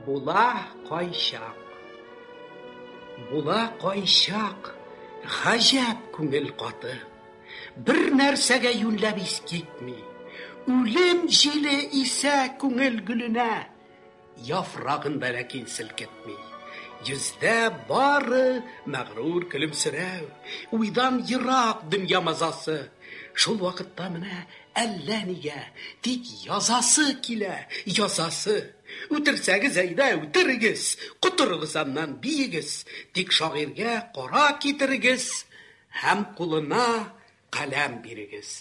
Була кайчак, була кайчак, гаҗәп күңел каты. Бер нәрсәгә юньләп ис китми. Үлем җиле исә күңел гөленә Яфрагын да ләкин селкетми. Йөздә бары мәгърур көлемсерәү, уйдан ерак дөнья мазасы. Шул вакытта менә әллә нигә тик язасы килә, язасы. Үтерсәгез әйдә, үтерегез, котырыгыз аннан, биегез, тик шагыйрьгә кара китерегез һәм кулына каләм бирегез.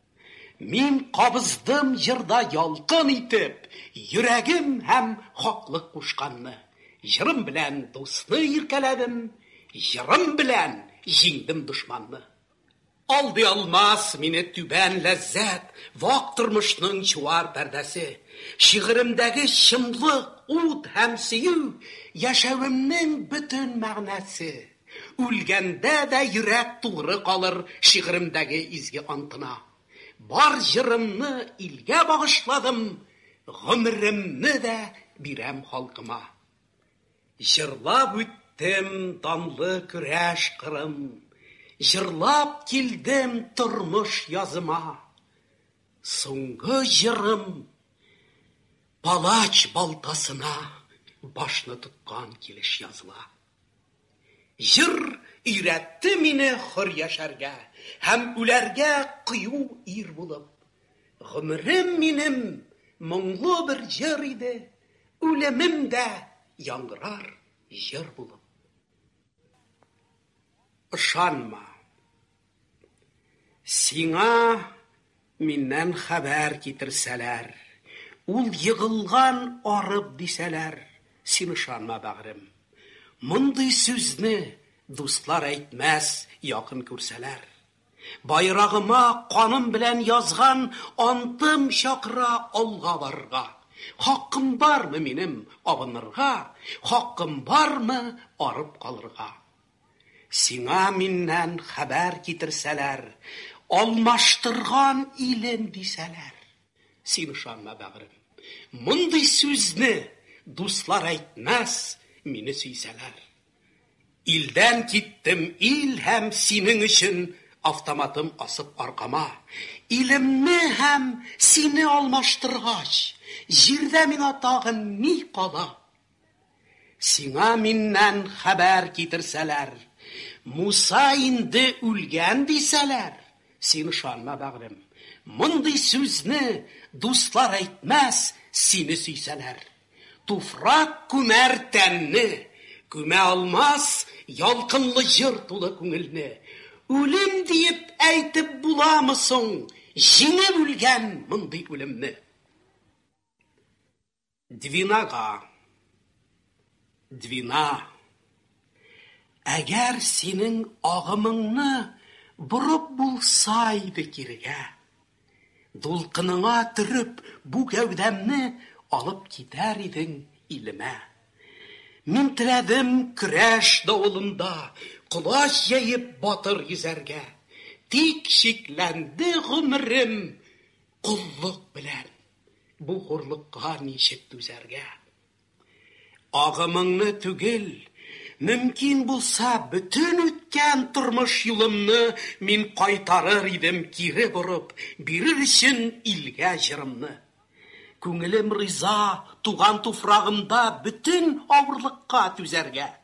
Мин кабыздым җырда ялкын итеп Йөрәгем һәм хаклык кушканны. Җырым белән дусны иркәләдем, Җырым белән җиңдем дошманны. Алдый алмас мине түбән ләззәт, Вак тормышның чуар пәрдәсе. Шигыремдәге чынлык, ут һәм сөю, Яшәвемнең бөтен мәгънәсе. Үлгәндә дә йөрәк туры калыр шигыремдәге изге антына. Бар җырымны илгә багышладым, гомеремне дә бирәм халкыма. Җырлап үттем данлы көрәш кырын, җырлап килдем тормыш языма. Соңгы җырым палач балтасына башны тоткан килеш языла. Җыр өйрәтте мине хөр яшәргә Һәм үләргә кыю ир булып. Гомерем минем моңлы бер җыр иде, Үлемем дә яңгырар җыр булып. Ышанма. Сиңа миннән хәбәр китерсәләр, Ул егылган, арып, дисәләр, Син ышанма, бәгърем. Мондый сүзне дуслар әйтмәс, Якын күрсәләр. Байрагыма каным белән язган Антым чакыра алга барырга. Хакым бармы минем абынырга, Хакым бармы арып калырга? Сиңа миннән хәбәр китерсәләр, Алмаштырган илем дисәләр. Син ышанма, бәгърем, мондый сүзне, Дуслар әйтмәс, мине сөйсәләр. Илдән киттем, ил һәм синең өчен Автоматым асып аркама. Илемне һәм сине алмаштыргач, Җирдә миңа тагын ни кала? Сиңа миннән хәбәр китерсәләр, Муса инде үлгән дисәләр, син ышанма, бәгърем. Мондый сүзне дуслар әйтмәс, сине сөйсәләр. Туфрак күмәр тәнне, күмә алмас ялкынлы җыр тулы күңелне. Үлем диеп әйтеп буламы соң җиңеп үлгән мондый үлемне? Двинага. Двина. Әгәр синең агымыңны борып булса иде кирегә. Дулкыныңа төреп бу гәүдәмне алып китәр идең илемә. Мин теләдем көрәш давылында колач җәеп батыр йөзәргә. Тик чикләнде гомерем коллык белән. Бу хурлыкка ничек түзәргә? Агымыңны түгел, мөмкин булса, бөтен үткән тормыш юлымны мин кайтарыр идем кире борып, бирер өчен илгә җырымны. Күңелем риза туган туфрагымда бөтен авырлыкка түзәргә.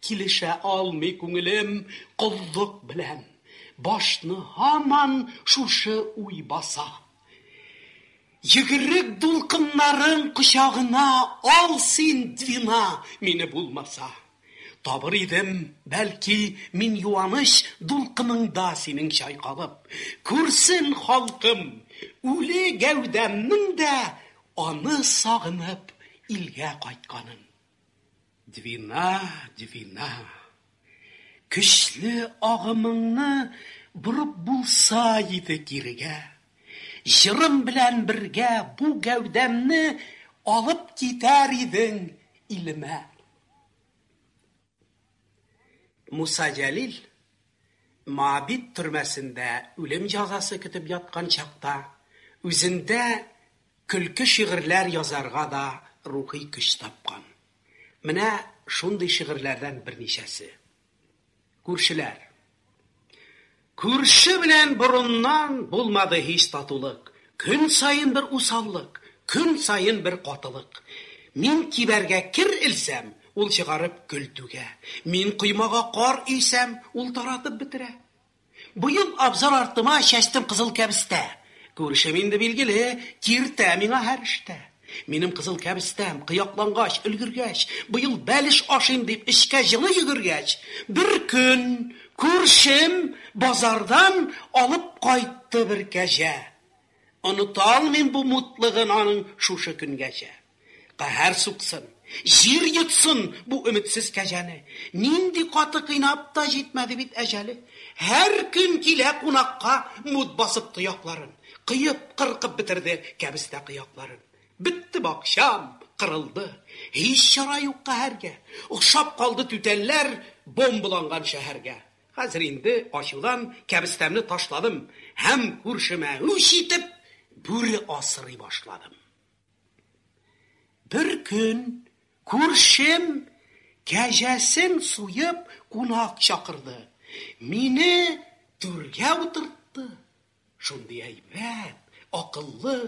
Килешә алмый күңелем коллык белән. Башны һаман шушы уй баса. Йөгерек дулкыннарың кочагына ал син, Двина, мине булмаса. Табыр идем, бәлки, мин юаныч дулкыныңда синең чайкалып. Күрсен халкым, үле гәүдәмнең дә аны сагынып илгә кайтканын. Двина, Двина, көчле агымыңны борып булса иде кирегә. Җырым белән бергә бу гәүдәмне алып китәр идең илемә. Муса Җәлил Моабит төрмәсендә үлем җәзасы көтеп яткан чакта үзендә Көлке шигырьләр язарга да рухи көч тапкан. Менә шундый шигырьләрдән берничәсе. Күршеләр. Күрше белән борыннан булмады һич татулык. Көн саен бер усаллык, көн саен бер катылык. Мин кибәргә кер элсәм, ул чыгарып көл түгә. Мин коймага кар өйсәм, ул таратып бетерә. Быел абзар артыма чәчтем кызыл кәбестә. Күршем инде билгеле, киртә миңа һәр эштә. Минем кызыл кәбестәм, кыяклангач, өлгергәч, быел бәлеш ашыйм дип, эчкә җылы йөгергәч, бер көн күршем базардан алып кайтты бер кәҗә. Оныта алмыйм бу мутлыгын аның шушы көнгәчә. Каһәр суксын, җир йотсын бу өметсез кәҗәне! Нинди каты кыйнап та җитмәде бит әҗәле! Һәр көн килә кунакка мут басып тоякларын. Кыеп, кыркып бетерде кәбестә кыякларын. Бетте бакчам, кырылды. Һич чара юк каһәргә. Охшап калды түтәлләр бомбаланган шәһәргә. Хәзер инде ачудан кәбестәмне ташладым һәм күршемә үч итеп, бүре асрый башладым. Бер көн күршем кәҗәсен суеп кунак чакырды. Мине түргә утыртты. Шундый әйбәт, акыллы.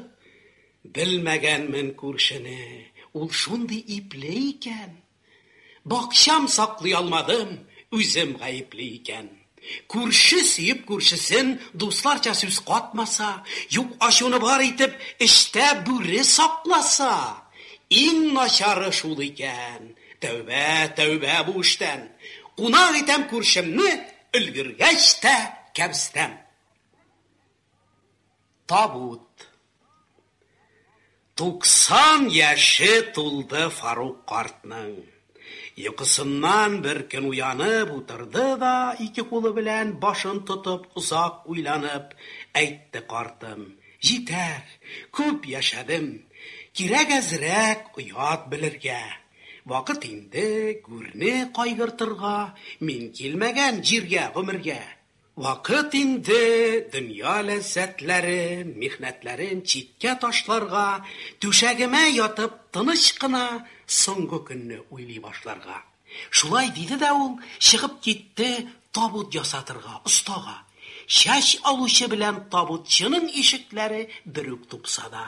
Белмәгәнмен күршене, ул шундый ипле икән. Бакчам саклый алмадым, үзем гаепле икән. Күрше сөеп күршесен дусларча сүз катмаса, юк ачуны бар итеп эчтә бүре сакласа! Иң начары шул икән. Тәүбә, тәүбә бу эштән! Кунак итәм күршемне, өлгергәч тә кәбестәм. Табут. Туксан яше тулды Фарук картның. Йокысыннан бер көн уянып утырды да, ике кулы белән башын тотып, озак уйланып, әйтте картым, Җитәр, күп яшәдем. Кирәк әзрәк оят белергә. Вакыт инде, гүрне кайгыртырга, мин килмәгән җиргә гомергә. Вакыт инде дөнья ләззәтләре, михнәтләрен читкә ташларга, түшәгемә ятып тыныч кына соңгы көнне уйлый башларга. Шулай диде дә ул чыгып китте табут ясатырга остага. Чәч алучы белән табутчының ишекләре бер үк тупсада.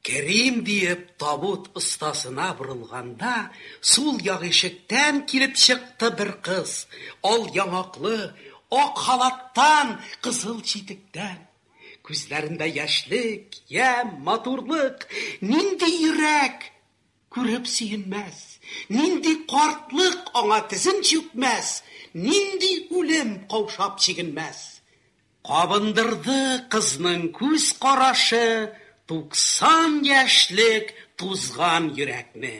Керим диеп табут остасына борылганда, сул як ишектән килеп чыкты бер кыз, ал яңаклы, ак халаттан, кызыл читектән. Күзләрендә яшьлек, ямь, матурлык, нинди йөрәк күреп сөенмәс, нинди картлык аңа тезен чүкмәс, нинди үлем каушап чигенмәс? Кабындырды кызның күз карашы Туксан яшьлек тузган йөрәкне.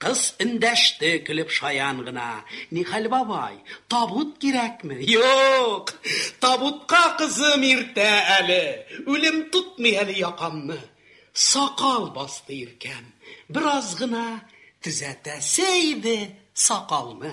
Кыз эндәште көлеп шаян гына, Нихәл, бабай, табут кирәкме? Юк! Табутка, кызым, иртә әле, Үлем тотмый әле якамны. Сакал басты иркәм, бераз гына Төзәтәсе иде сакалны.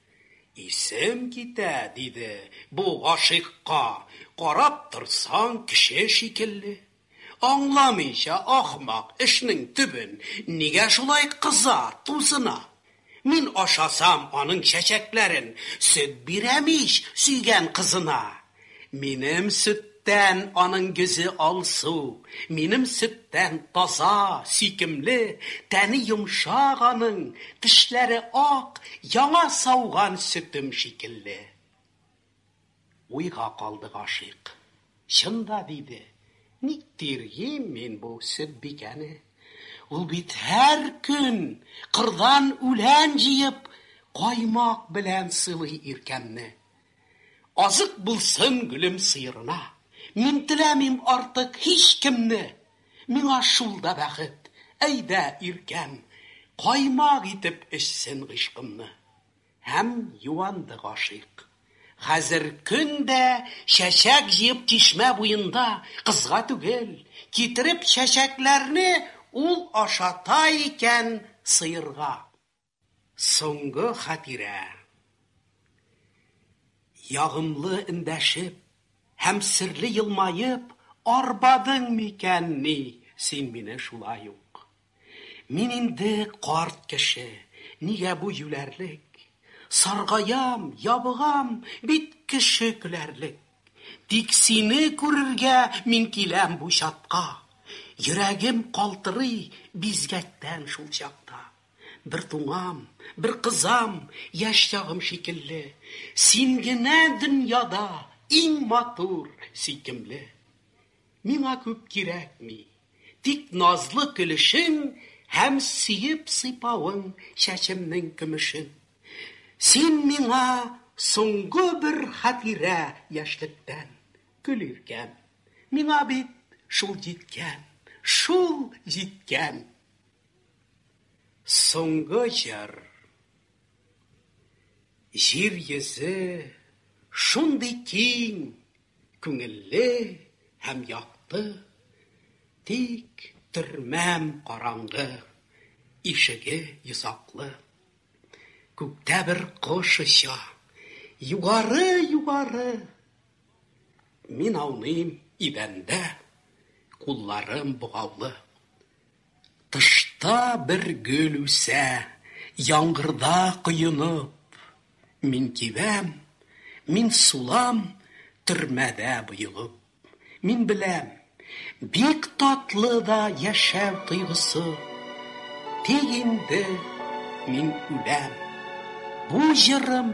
Исем китә, диде, бу гашыйкка, карап торсаң, кеше шикелле. Аңламыйча, ахмак, эшнең төбен, нигә шулай кыза, тузына. Мин ашасам аның чәчәкләрен, сөт бирәм ич, сөйгән кызына. Минем сөттән аның йөзе алсу, минем сөттән таза, сөйкемле, тәне йомшак аның, тешләре ак, яңа сауган сөтем шикелле. Уйга калды гашыйк. Чын да, диде, ник тиргим мин бу Сөтбикәне? Ул бит һәр көн, кырдан үлән җыеп, каймак белән сылый иркәмне. Азык булсын гөлем сыерына. Мин теләмим артык һичкемне. Миңа шул да бәхет, әйдә, иркәм, Каймак итеп эчсен гыйшкымны. Һәм юанды гашыйк. Хәзер көн дә чәчәк җыеп чишмә буенда, кызга түгел, китереп чәчәкләрне ул ашата икән сыерга. Соңгы хатирә. Ягымлы эндәшеп һәм серле елмаеп арбадың микәнни син мине шулай ук? Мин инде карт кеше, нигә бу юләрлек? Саргаям, ябыгам, бит кеше көләрлек. Тик сине күрергә мин киләм бу чатка. Йөрәгем калтырый бизгәктән шул чакта. Бер туңам, бер кызам, яшь чагым шикелле, Син генә дөньяда иң матур, сөйкемле. Миңа күп кирәкми, тик назлы көлешең Һәм сөеп сыйпавың чәчемнең көмешен. Син миңа соңгы бер хатирә яшьлектән, Гөл иркәм, миңа бит шул җиткән, шул җиткән! Соңгы җыр. Җир йөзе шундый киң, күңелле һәм якты, Тик төрмәм караңгы, ишеге йозаклы. Күктә бер кош оча, югары, югары, Мин ауныйм идәндә, кулларым богаулы. Тышта бер гөл үсә, Яңгырда коенып, Мин кибәм, мин сулам, Төрмәдә боегып. Мин беләм, бик татлы да Яшәү тойгысы, Тик инде мин үләм. Бу җырым.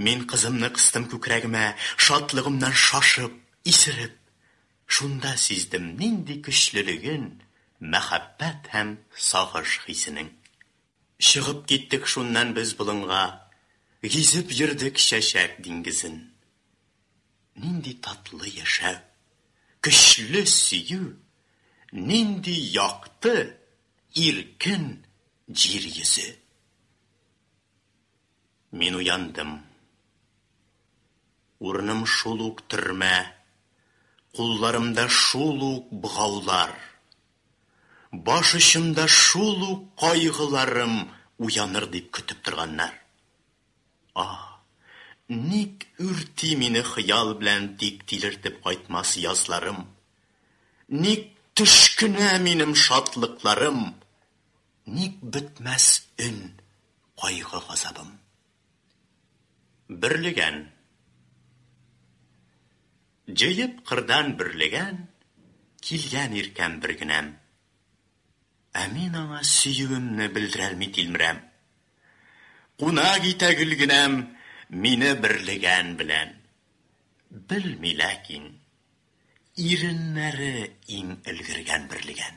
Мин кызымны кыстым күкрәгемә, шатлыгымнан шашып, исереп. Шунда сиздем нинди көчлелеген мәхәббәт һәм сагыш хисенең. Чыгып киттек шуннан без болынга, гизеп йөрдек чәчәк диңгезен. Нинди татлы яшәү, көчле сөю, нинди якты, иркен җир йөзе! Мин уяндым. Урыным шул ук төрмә, кулларымда шул ук богаулар. Баш очымда шул ук кайгыларым уяныр дип көтеп торганнар. Аһ, ник үрти мине хыял белән тик тилертеп кайтмас язларым? Ник төш кенә минем шатлыкларым? Ник бетмәс өн, кайгы газабым? Бөрлегән. Җыеп кырдан бөрлегән, Килгән иркәм бер генәм. Ә мин аңа сөюемне Белдерәлми тилмерәм. Кунак итә гөл генәм Мине бөрлегән белән. Белми ләкин. Иреннәре иң өлгергән бөрлегән.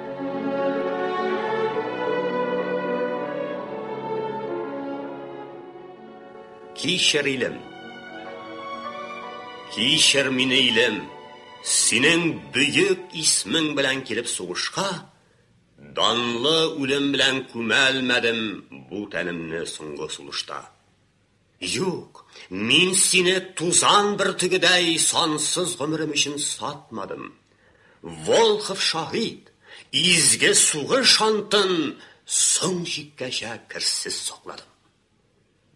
Кичер, илем. Кичер мине, илем. Синең бөек исмең белән килеп сугышка, данлы үлем белән күмәлмәдем бу тәнемне соңгы сулышта. Юк, мин сине тузан бөртегедәй сансыз гомерем өчен сатмадым. Волхов шаһит, изге сугыш антын соң чиккәчә керсез сакладым.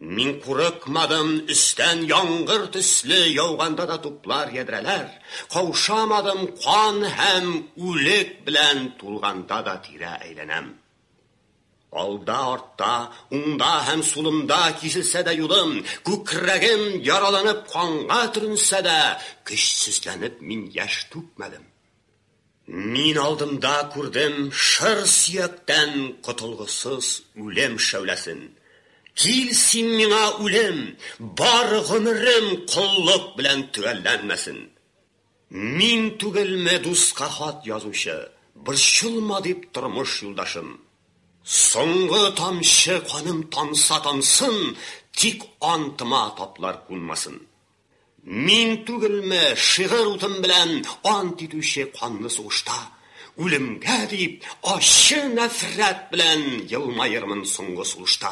Мин курыкмадым, өстән яңгыр төсле яуганда да туплар ядрәләр, каушамадым, кан һәм үлек белән тулганда да тирә әйләнәм. Алда-артта, уңда һәм сулымда киселсә дә юлым, күкрәгем яраланып канга төренсә дә, көчсезләнеп мин яшь түкмәдем. Мин алдымда күрдем шыр сөяктән котылгысыз үлем шәүләсен. Кил син миңа, үлем, бар гомерем коллык белән төгәлләнмәсен! Мин түгелме дуска хат язучы, Борчылма дип тормыш юлдашым. Соңгы тамчы каным тамса тамсын, Тик антыма таплар кунмасын. Мин түгелме шигырь утым белән Ант итүче канлы сугышта, Үлемгә дип ачы нәфрәт белән Елмаермын соңгы сулышта.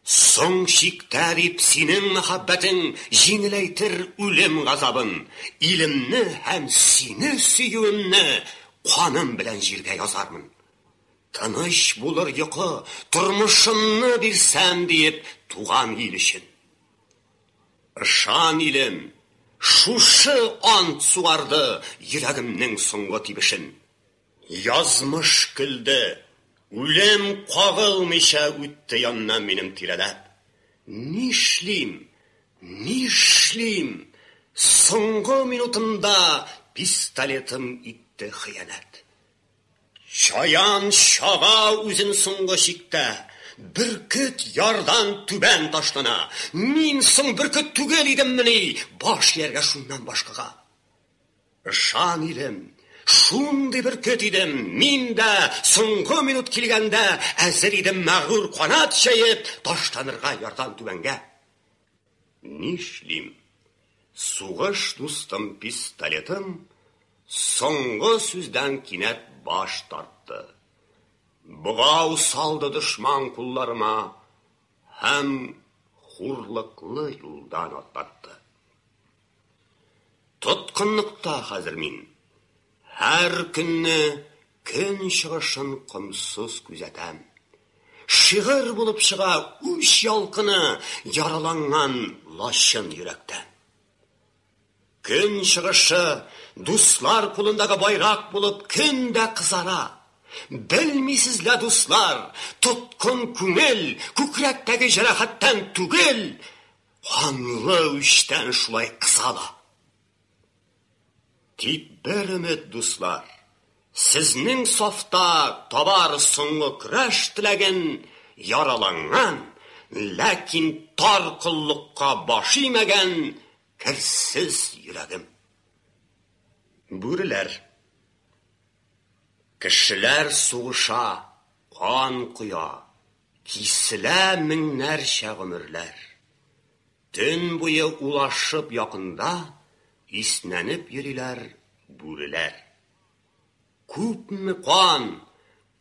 Соң чиктә дип синең мәхәббәтең җиңеләйтер үлем газабын, илемне һәм сине сөюемне каным белән җиргә язармын. Тыныч булыр йокы, тормышымны бирсәм диеп туган ил өчен. Ышан, илем, шушы ант сугарды йөрәгемнең соңгы тибешен. Язмыш көлде. Үлем кагылмыйча үтте яннан минем тирәләп. Нишлим, нишлим, соңгы минутымда пистолетым итте хыянәт. Чаян чага үзен соңгы чиктә. Бөркет ярдан түбән ташлана. Мин соң бөркет түгел идеммени, баш ияргә шуннан башкага? Ышан, илем, шундый бер көт идем, мин дә, соңгы минут килгәндә, әзер идем мәгърур канат җәеп, ташланырга ярдан түбәнгә. Нишлим? Сугыш дустым пистолетым соңгы сүздән кинәт баш тартты. Богау салды дошман кулларыма һәм хурлыклы юлдан атлатты. Тоткынлыкта хәзер мин. Һәр көнне көн чыгышын комсыз күзәтәм. Шигырь булып чыга үч ялкыны яраланган лачын йөрәктә. Көн чыгышы дуслар кулындагы байрак булып көн дә кызара. Белмисез лә, дуслар, тоткын күңел күкрәктәге җәрәхәттән түгел, Канлы үчтән шулай кыса да. Тик бер өмет, дуслар, сезнең сафта табар соңгы көрәш теләген яраланган, ләкин тар коллыкка баш имәгән керсез йөрәгем. Бүреләр. Кешеләр сугыша, кан коя, Киселә меңнәрчә гомерләр. Төн буе улашып якында Иснәнеп йөриләр бүреләр. Күпме кан,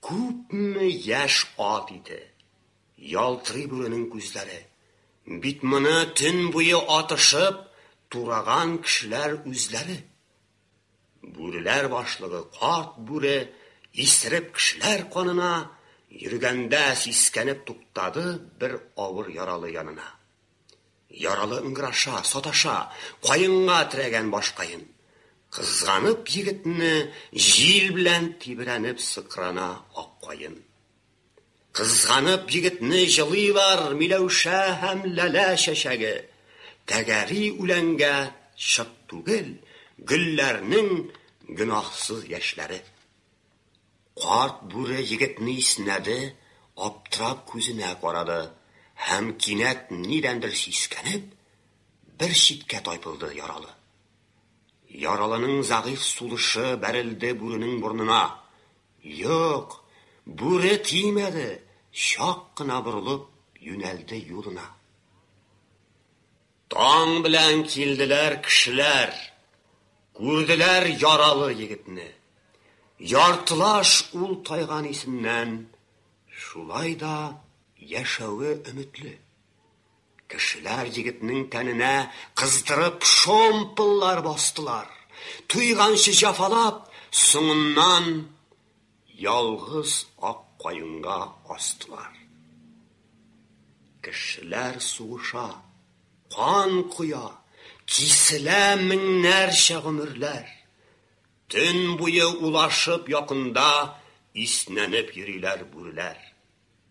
күпме яшь ат ите. Ялтырый бүренең күзләре. Бит моны төн буе атышып Тураган кешеләр үзләре. Бүреләр башлыгы карт бүре исереп кешеләр канына йөргәндә сискәнеп туктады бер авыр яралы янына. Яралы ыңгыраша, саташа, каенга терәгән башкаен. Кызганып егетне җил белән тибрәнеп сыкрана ак каен. Кызганып егетне җылыйлар Миләүшә һәм Ләлә чәчәге. Тәгәри үләнгә чык түгел Гөлләрнең гөнаһсыз яшьләре. Карт бүре егетне иснәде, аптырап күзенә карады һәм кинәт нидәндер сискәнеп, бер читкә тайпылды яралы. Яралының зәгыйфь сулышы бәрелде бүренең борнына, Юк, бүре тимәде, чак кына борылып, юнәлде юлына. Таң белән килделәр кешеләр, күрделәр яралы егетне. Яртылаш ул тайган исеннән, шулай да яшәве өметле. Кешеләр егетнең тәненә кыздырып шомпыллар бастылар. Туйганчы җафалап, соңыннан ялгыз ак каенга астылар. Кешеләр сугыша, кан коя, киселә меңнәрчә гомерләр. Төн буе улашып якында иснәнеп йөриләр бүреләр.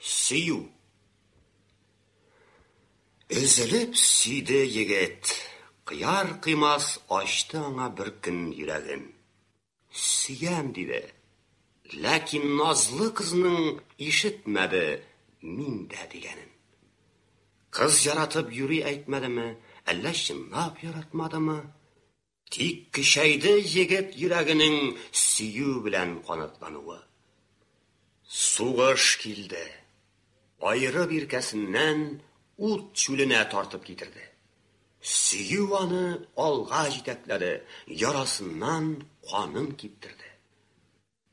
Сөю. Өзелеп сөйде егет. Кыяр кыймас ачты аңа бер көн йөрәген. Сөям диде. Ләкин назлы кызның ишетмәде мин дә дигәнен. Кыз яратып юри әйтмәдеме, әллә чынлап яратмадымы? Тик көчәйде егет йөрәгенең сөю белән канатлануы. Сугыш килде. Аеры биркәсеннән ут чүленә тартып китерде. Сөю аны алга җитәкләде, ярасыннан канын киптерде.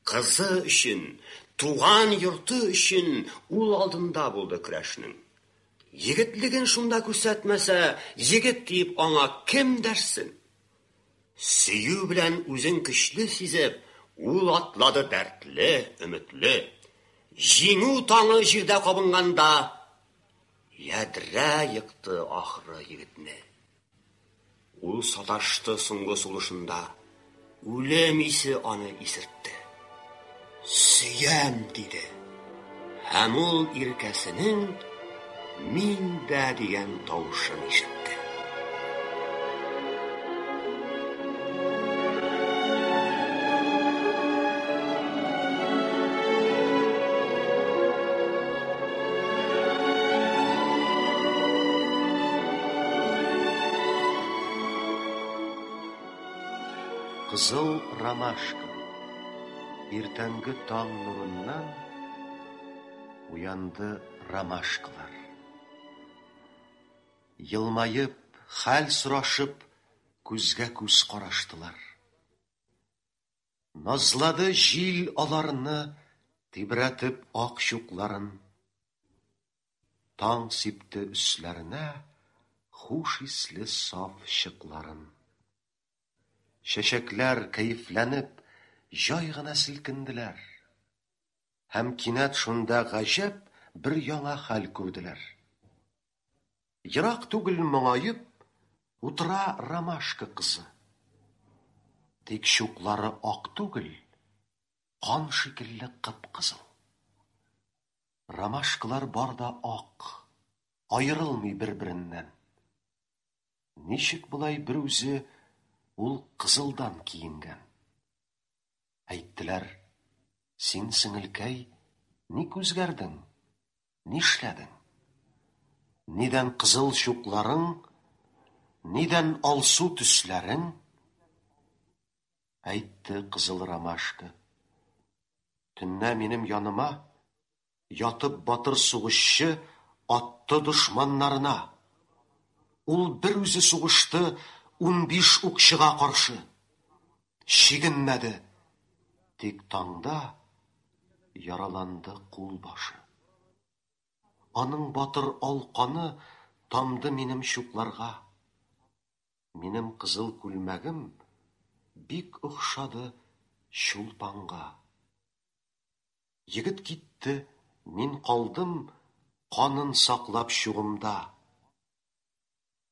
Кызы өчен, туган йорты өчен ул алдында булды көрәшнең. Егетлеген шунда күрсәтмәсә, егет диеп аңа кем дәрсен? Сөю белән үзен көчле сизеп, ул атлады дәртле, өметле. Җиңү таңы җирдә кабынганда, ядрә екты, ахры, егетне. Ул саташты соңгы сулышында, Үлем исе аны исертте. Сөям! диде. Һәм ул иркәсенең Мин дә дигән тавышын ишетте. Кызыл ромашка Иртәнге таң нурыннан Уянды ромашкалар Елмаеп, хәл сорашып Күзгә-күз караштылар. Назлады җил аларны, Тибрәтеп ак чукларын. Таң сипте өсләренә Хуш исле саф чыкларын. Чәчәкләр, кәефләнеп, Җай гына селкенделәр. Һәм кинәт шунда гаҗәп Бер яңа хәл күрделәр. Ерак түгел моңаеп Утыра ромашка кызы. Тик чуклары ак түгел, Кан шикелле кып-кызыл. Ромашкалар бар да ак, Аерылмый бер-береннән. Ничек болай берүзе Ул кызылдан киенгән? Әйттеләр, Син, сеңелкәй, Ник үзгәрдең? Нишләдең? Нидән кызыл чукларың, нидән алсу төсләрең? Әйтте кызыл ромашка. Төннә минем яныма ятып батыр сугышчы атты дошманнарына. Ул бер үзе сугышты унбиш укчыга каршы. чигенмәде. Тик таңда яраланды кул башы. Аның батыр ал каны тамды минем чукларга. Минем кызыл күлмәгем бик охшады чулпанга. Егет китте, мин калдым канын саклап чугымда.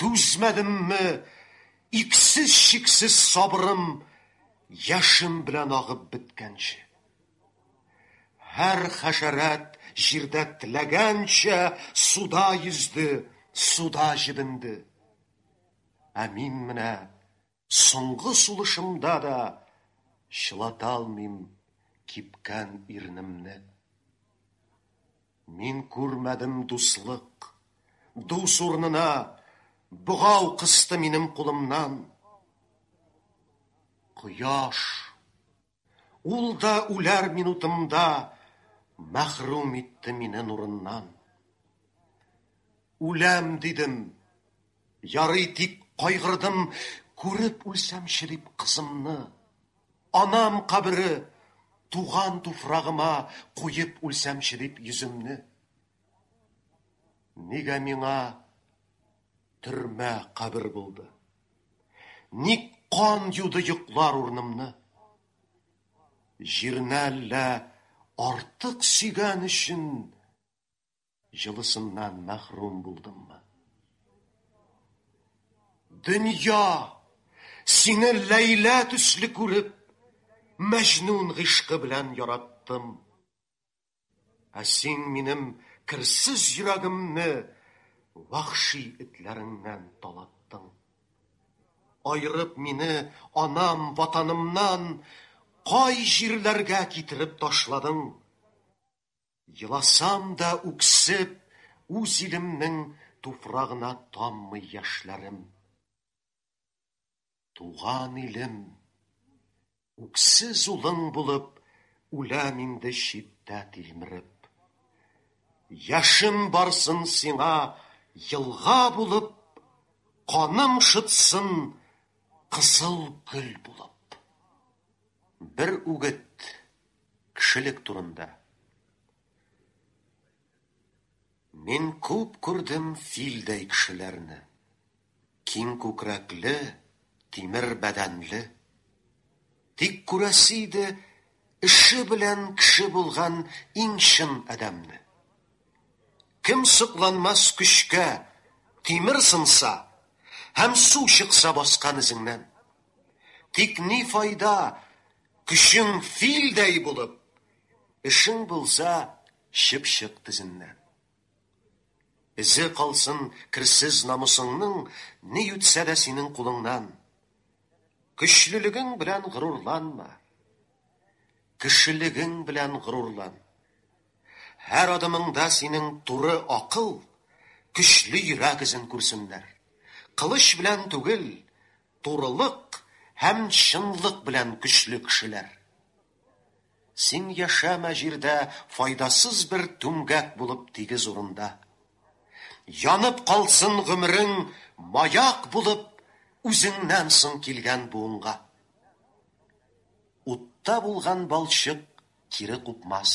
Түзмәдемме, иксез-чиксез сабырым яшем белән агып беткәнче. Һәр хәшәрәт җирдә теләгәнчә суда йөзде, суда җебенде. Ә мин менә Соңгы сулышымда да чылаталмыйм кипкән ирнемне. Мин күрмәдем дуслык, дус урнына богау кысты минем кулымнан. Кояш. Ул да үләр минутымда Мәхрүм итте мине нурыннан. Үләм дидем, ярый тик кайгырдым, Күреп үлсәмче дип кызымны. Анам кабере, туган туфрагыма Куеп үлсәмче дип йөземне. Нигә миңа төрмә кабер булды? Ник кан юды йоклар урнымны? Җирне әллә артык сөйгән өчен җылысыннан мәхрүм булдыммы? Дөнья, сине Ләйлә төсле күреп, Мәҗнүн гыйшкы белән яраттым. Ә син минем керсез йөрәгемне вахши этләреңнән талаттың. Айрып мине анам, ватанымнан кай җирләргә китереп ташладың. Еласам да үксеп, үз илемнең туфрагына таммый яшьләрем. Туган илем, үксез улың булып, Үләм инде читтә тилмереп. Яшем барсын сиңа елга булып, Каным шытсын кызыл гөл булып. Бер үгет кешелек турында. Мин күп күрдем филдәй кешеләрне. Киң күкрәкле, тимер бәдәнле. Тик күрәсе иде эше белән кеше булган иң чын адәмне. Кем сокланмас көчкә, тимер сынса һәм су чыкса баскан эзеңнән. Тик ни файда, көчең филдәй булып, эшең булса чыпчык тезеннән. Эзе калсын керсез намусыңның Ни үтсә дә синең кулыңнан. Көчлелегең белән горурланма, Кешелегең белән горурлан. Һәр адымыңда синең туры акыл, Көчле йөрәк эзен күрсеннәр. Кылыч белән түгел, турылык Һәм чынлык белән көчле кешеләр. Син яшәмә җирдә файдасыз бер түмгәк булып тигез урында. Янып калсын гомерең маяк булып үзеңнән соң килгән буынга. Утта булган балчык кире купмас.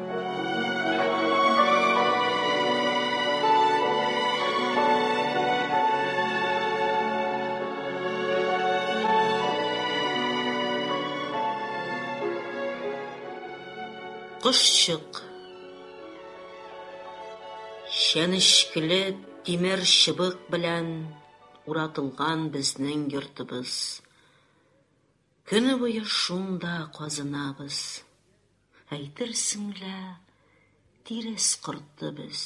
Кошчык Чәнечкеле тимер чыбык белән уратылган безнең йортыбыз. Көне буе шунда казынабыз. Әйтерсең лә, тирес корты без.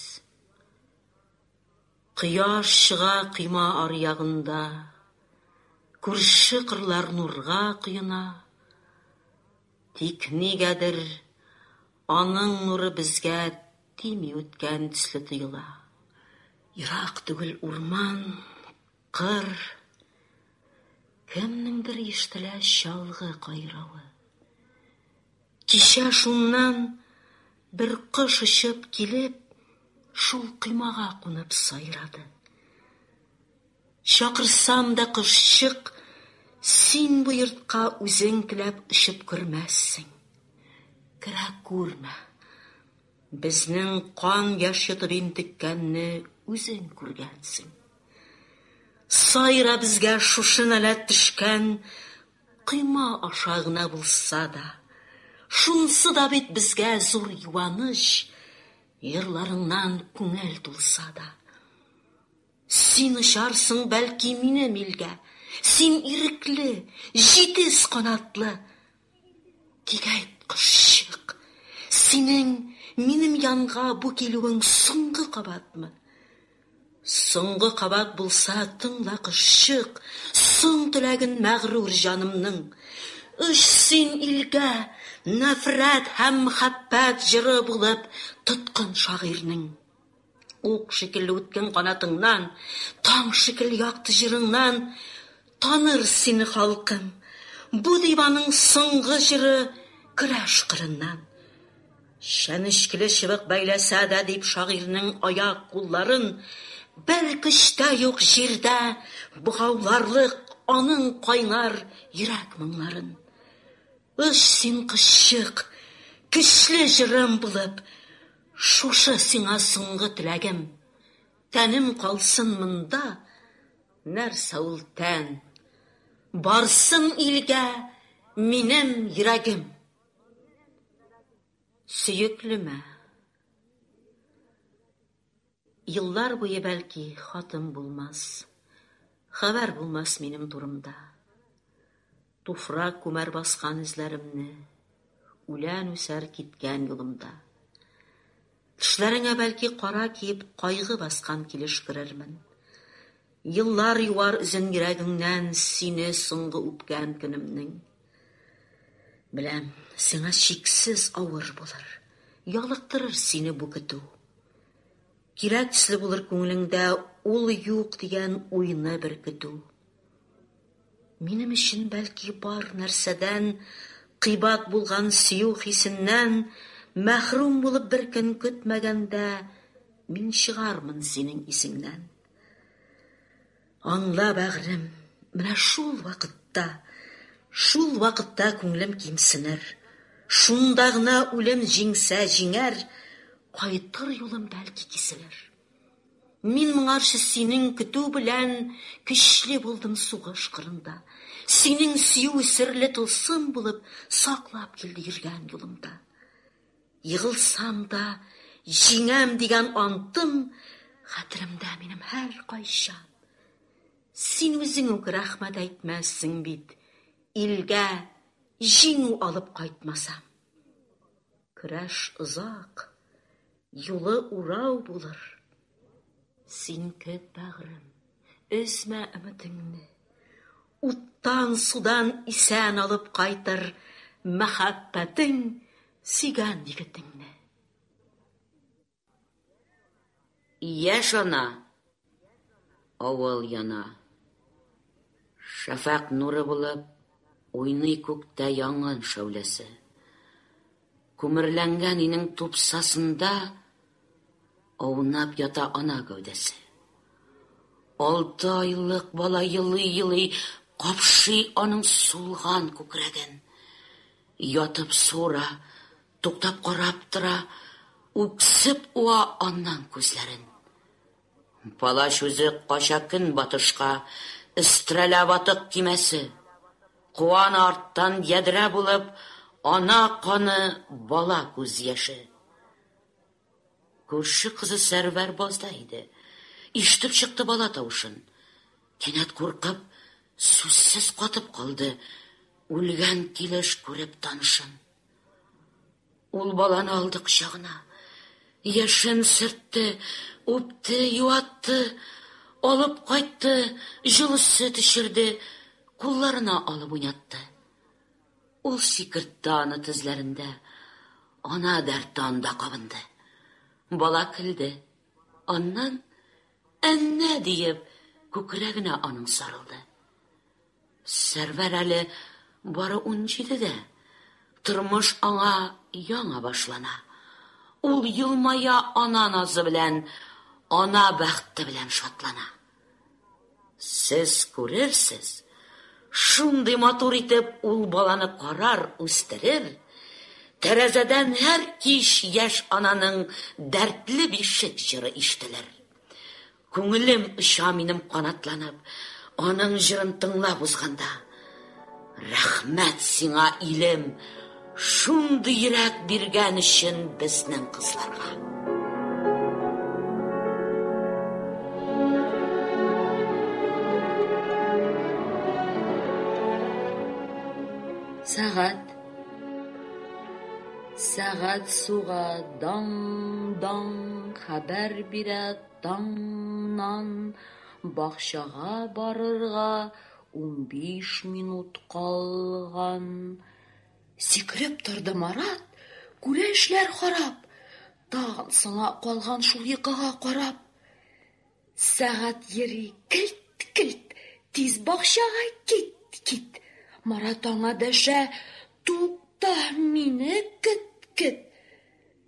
Кояш чыга койма аръягында, Күрше кырлар нурга коена. Тик нигәдер аның нуры безгә тими үткән төсле тоела. Ерак түгел урман. Кыр, кемнеңдер ишетелә чалгы кайравы. Кичә шуннан бер кош очып килеп, шул коймага кунып сайрады. Чакырсам да, кошчык, син бу йортка үзең теләп очып кермәссең. Керә күрмә. Безнең кан яш йотып интеккәнне үзең күргәнсең. Сайра безгә шушы нәләт төшкән койма аша гына булса да. Шунсы да бит безгә зур юаныч, җырларыңнан күңел тулса да. Син очарсың, бәлки, минем илгә, Син ирекле, җитез канатлы. Тик әйт, кошчык, синең минем янга Бу килүең соңгы кабатмы? Соңгы кабат булса, тыңла, кошчык, Соң теләген мәгърур җанымның. Оч син илгә, нәфрәт һәм мхәббәт Җыры булып тоткын шагыйрьнең. Ук шикелле үткен канатыңнан, Таң шикелле якты җырыңнан Таныр сине халкым. Бу диваның соңгы җыры Көрәш кырыннан. Чәнечкеле чыбык бәйләсә дә, Дип шагыйрьнең аяк-кулларын Бер көч тә юк җирдә богауларлык Аның кайнар йөрәк моңнарын. Оч син кошчык, көчле җырым булып, Шушы сиңа соңгы теләгем. Тәнем калсын монда, нәрсә ул тән? Барсын илгә минем йөрәгем. Сөеклемә. Еллар буе бәлки хатым булмас, Хәбәр булмас минем турымда. Туфрак күмәр баскан эзләремне, Үлән үсәр киткән юлымда. Тешләреңә бәлки кара киеп Кайгы баскан килеш керермен. Еллар юар үзен йөрәгеңнән Сине соңгы үпкән көнемнең. Беләм, сиңа чиксез авыр булыр, Ялыктырыр сине бу көтү. Кирәк төсле булыр күңелеңдә Ул юк дигән уйны бер көтү. Минем өчен, бәлки, бар нәрсәдән, Кыйбат булган сөю хисеннән Мәхрүм булып бер көн көтмәгәндә, Мин чыгармын синең исеңнән. Аңла, бәгърем, менә шул вакытта, шул вакытта күңлем кимсенер, шунда гына үлем җиңсә җиңәр, кайтыр юлым бәлки киселер. Мин моңарчы синең көтү белән көчле булдым сугыш кырында. Синең сөю серле тылсым булып саклап килде йөргән юлымда. Егылсам да, җиңәм дигән антым Хәтеремдә минем һәркайчан. Син үзең үк рәхмәт әйтмәссең бит, Илгә җиңү алып кайтмасам. Көрәш озак, юлы урау булыр. Син көт, бәгърем, өзмә өметеңне. Уттан, судан исән алып кайтыр мәхәббәтең сөйгән егетеңне. Яшь ана, авыл яна. Шәфәкъ нуры булып уйный күктә яңын шәүләсе. Күмерләнгән инең тупсасында Аунап ята ана гәүдәсе. Алты айлык бала елый-елый капшый аның сулган күкрәген. Ятып суыра, туктап карап тора, үксеп уа аннан күзләрен. Палач үзе кача көнбатышка, өстерәлә ватык кимәсе. Куан арттан ядрә булып, ана каны, бала күз яше. Күрше кызы Сәрвәр базда иде. Ишетеп чыкты бала тавышын. Кинәт куркып, сүзсез катып калды. Үлгән килеш күреп танышын. Ул баланы алды кочагына. Яшен сөртте, үпте, юатты, алып кайтты, җылы сөт эчерде, кулларына алып уйнатты. Ул сикертте аны тезләрендә, Ана дәрте анда кабынды. Бала көлде. Аннан, Әннә! диеп, күкрәгенә аның сарылды. Сәрвәр әле бары унҗидедә, тормыш аңа яңа башлана. Ул елмая ана назы белән, ана бәхте белән шатлана. Сез күрерсез, шундый матур итеп ул баланы карар, үстерер, тәрәзәдән һәр кич яшь ананың дәртле бишек җыры ишетелер. Күңелем оча минем канатланып, аның җырын тыңлап узганда. Рәхмәт сиңа, илем, шундый йөрәк биргән өчен безнең кызларга. Сәгать. Сәгать суга дан дан хәбәр бирә таңнан бакчага барырга Унбиш минут калган. Сикереп торды Марат, күрә эшләр харап. Тагын соңа калган шул йокыга карап. Сәгать йөри, келт-келт, тиз бакчага кит, кит. Марат аңа дәшә, тукта, мине кет, кет.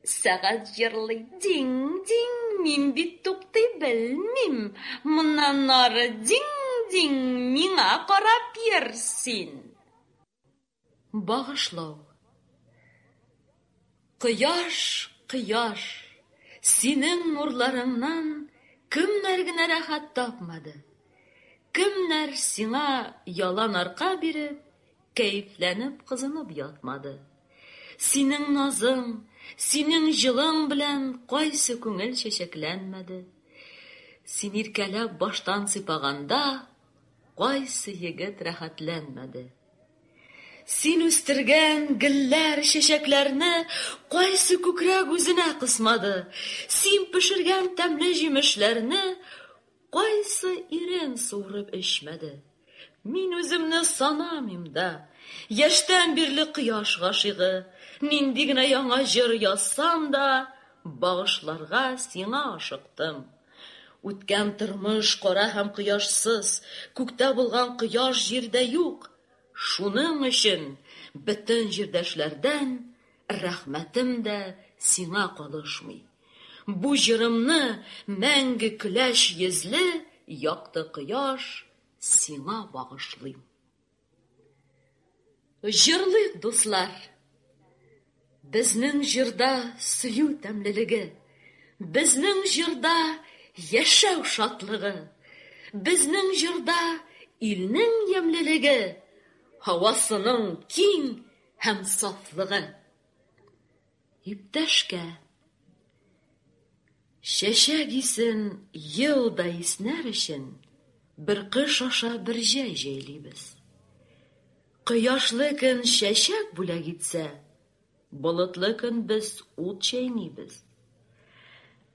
Сәгать җырлый, динг-динг, мин бит туктый белмим, моннан ары динг-динг, миңа карап йөр син. Багышлау. Кояш, кояш, синең нурларыңнан кемнәр генә рәхәт тапмады, кемнәр сиңа ялан арка биреп, Кәефләнеп, кызынып ятмады. Синең назың, синең җылың белән кайсы күңел чәчәкләнмәде? Син иркәләп баштан сыйпаганда, кайсы егет рәхәтләнмәде? Син үстергән гөлләр, чәчәкләрне кайсы күкрәк үзенә кысмады? Син пешергән тәмле җимешләрне Кайсы ирен суырып эчмәде? Мин үземне санамыйм да. Яшьтән бирле кояш гашыйгы. Нинди генә яңа җыр язсам да, Багышларга сиңа ашыктым. Үткән тормыш кара һәм кояшсыз, Күктә булган кояш җирдә юк. Шуның өчен бөтен җирдәшләрдән Рәхмәтем дә сиңа калышмый. Бу җырымны мәңге көләч йөзле якты кояш сиңа багышлыйм. Җырлыйк, дуслар! Безнең җырда сөю тәмлелеге, безнең җырда яшәү шатлыгы, безнең җырда илнең ямьлелеге, һавасының киң, һәм сафлыгы. Иптәшкә чәчәк исен ел да иснәр өчен бер кыш аша бер җәй җәйлибез. Кояшлы көн чәчәк бүләк итсә, болытлы көн без ут чәйнибез.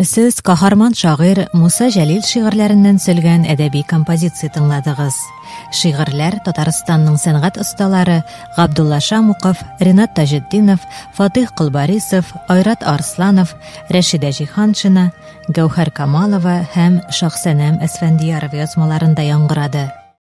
Сез каһарман шагыйрь Муса Җәлил шигырьләреннән сөлгән әдәби композиция тыңладыгыз. Шигырьләр Татарстанның сәнгать осталары Габдулла Шамуков, Ринат Таҗетдинов, Фатих Кылбарисов, Айрат Арсланов, Рәшидә Җиханшина, Гәүһәр Камалова һәм Шахсәнәм Әсфәндияров язмаларында яңгырады.